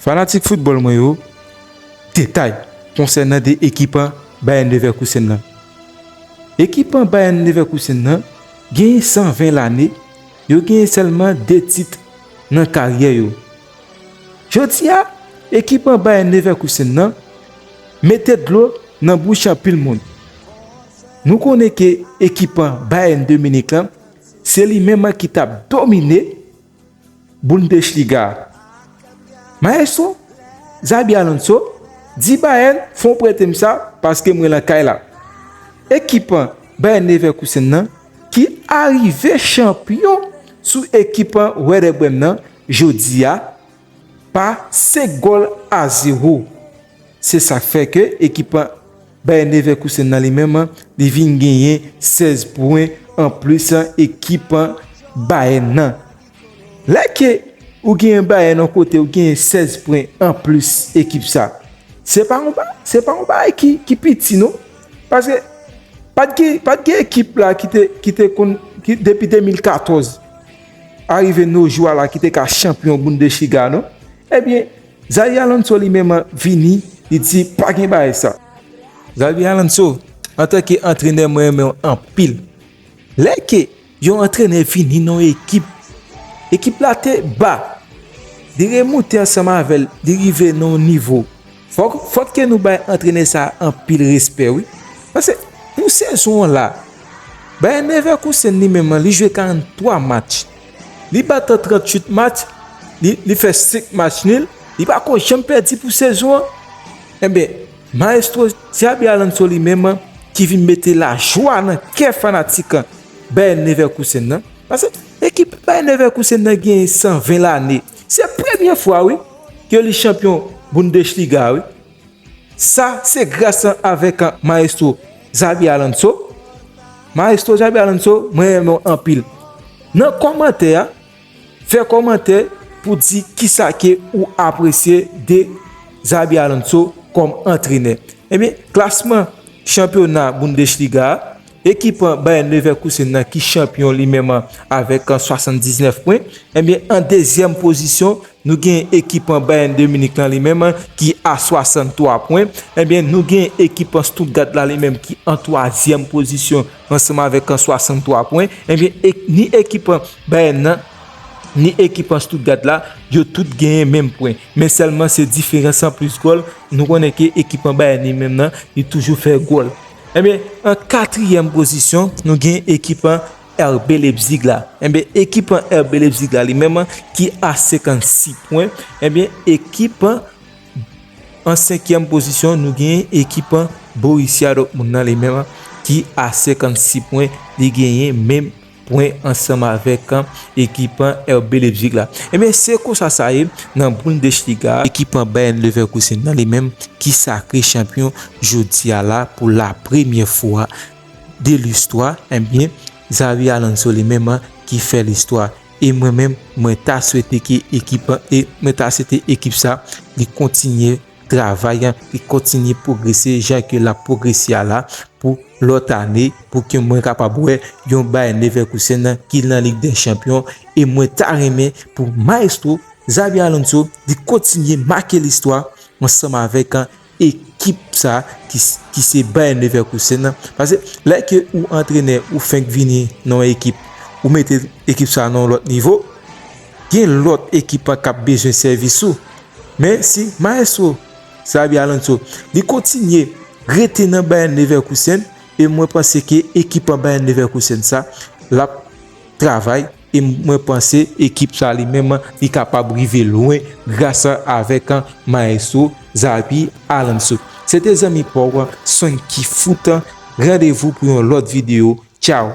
Fanatik foutbòl mwen yo, detay konsènan 2 ekipan Bayern Leverkusen nan. Ekipan Bayern Leverkusen nan genyen 120 lane, yo genyen sèlman 2 tit nan karyè yo. Jodi a, ekipan Bayern Leverkusen nan mete dlo nan bouch anpil moun. Nou konnen ke ekipan Bayern de Munich lan, se li menm ki tap domine. Bundesliga, Maestro Xabi Alonso di Bayern fon prete m sa paske mwen lan kay la. Ekip Bayer Leverkusen nan ki arive chanpyon sou ekip Werder Bremen nan jodi a, pa 5 gòl a 0. Se sa k fè ke ekip Bayer Leverkusen nan li menm li vin genyen 16 pwen an plis ekip Bayern nan. Lè ke ou genyen Bayern yon kote ou genyen 16 pwen an plis ekip sa. Se pa yon se pa yon bagay ki piti non. Paske pat gen ekip la ki te konn depi 2014. arive no jou a la ki te ka chanpyon Bundesliga non. Ebyen, Xabi Alonso li menm vini, li di pa gen bagay sa. Xabi Alonso, antanke antrenè mwen renmen w anpil. Lè ke yon antrenè vini nan yon ekip, ekip la te ba, li remoute ansanm avè l, li rive nan yon nivo. Fok fok ke nou bay antrenè sa anpil respè wi pase pou sezon an la Bayer Leverkusen li menm an li jwe 43 match li bat 38 match li li fè 5 match nil li pa ko janm pèdi pou sezon an enbe maestro Xabi Alonso li menm an ki vin mete lajwa nan kè fanatik Bayer Leverkusen nan pase ekip Bayer Leverkusen nan gen 120 lane se premye fwa wi ke li chanpyon Bundesliga wi. Sa se gras an avèk an maestro Xabi Alonso. Maestro Xabi Alonso mwen renmen w anpil. Nan kòmantè a, fè kòmantè pou di kisa ke ou apresye de Xabi Alonso kòm antrenè. Ebyen, klasman chanpyona Bundesliga a, Ekip Bayern Leverkusen nan ki chanpyon li menm avèk 79 pwen. Ebyen an dezyèm pozisyon nou gen ekip Bayern de Munich lan li menm ki a 63 pwen. Ebyen nou gen ekip Stuttgart la li menm ki an twazyèm pozisyon ansanm avèk 63 pwen. Ebyen ni ekip Bayern nan ni ekip Stuttgart la yo tout genyen menm pwen. Men sèlman se diferans an plis gòl. Nou konnen ke ekip Bayern li menm nan li toujou fè gòl. Enben, an katriyèm pozisyon, nou gen ekip an RB Leipzig la. Enben, ekip an RB Leipzig la li menm ki a 56 pwen. Enben, ekip an an senkyèm pozisyon, nou gen ekip an Borussia Dortmund nan li menm ki a 56 pwen. Li genyen menm. pwen ansanm avèk ekipan RB Leipzig la. Ebyen se konsa sa ye nan Bundesliga a. Ekipan Bayern Leverkusen nan li menm ki sakre chanpyon jodi a la pou la premyè fwa de listwa ebyen Xabi Alonso li menm ki fè listwa e mwen menm mwen ta swete ke ekipan e mwen ta swete ekip sa li kontinye travay an ki kontinye pwogrese jan ke lap pwogrese a la pou lòt ane pou ke mwen kapab wè yon Bayer Leverkusen ki lan Lig dè Chanpyon e mwen ta renmen pou Maestro Xabi Alonso li kontinye make listwa ansanm avèk ekip sa ki se Bayer Leverkusen pase lè ke ou antrenè ou fenk vini nan yon ekip ou mete ekip sa nan yon lòt nivo. gen lòt ekip an kap bezwen sèvis ou men si maestro Xabi Alonso li kontinye rete nan Bayern Leverkusen e mwen panse ke ekip an Bayern Leverkusen sa lap travay e mwen panse ekip sa li menm li kapab rive lwen gras avèk maestro Xabi Alonso se te zanmi paw Sonky foot randevou pou yon lòt video tchaw.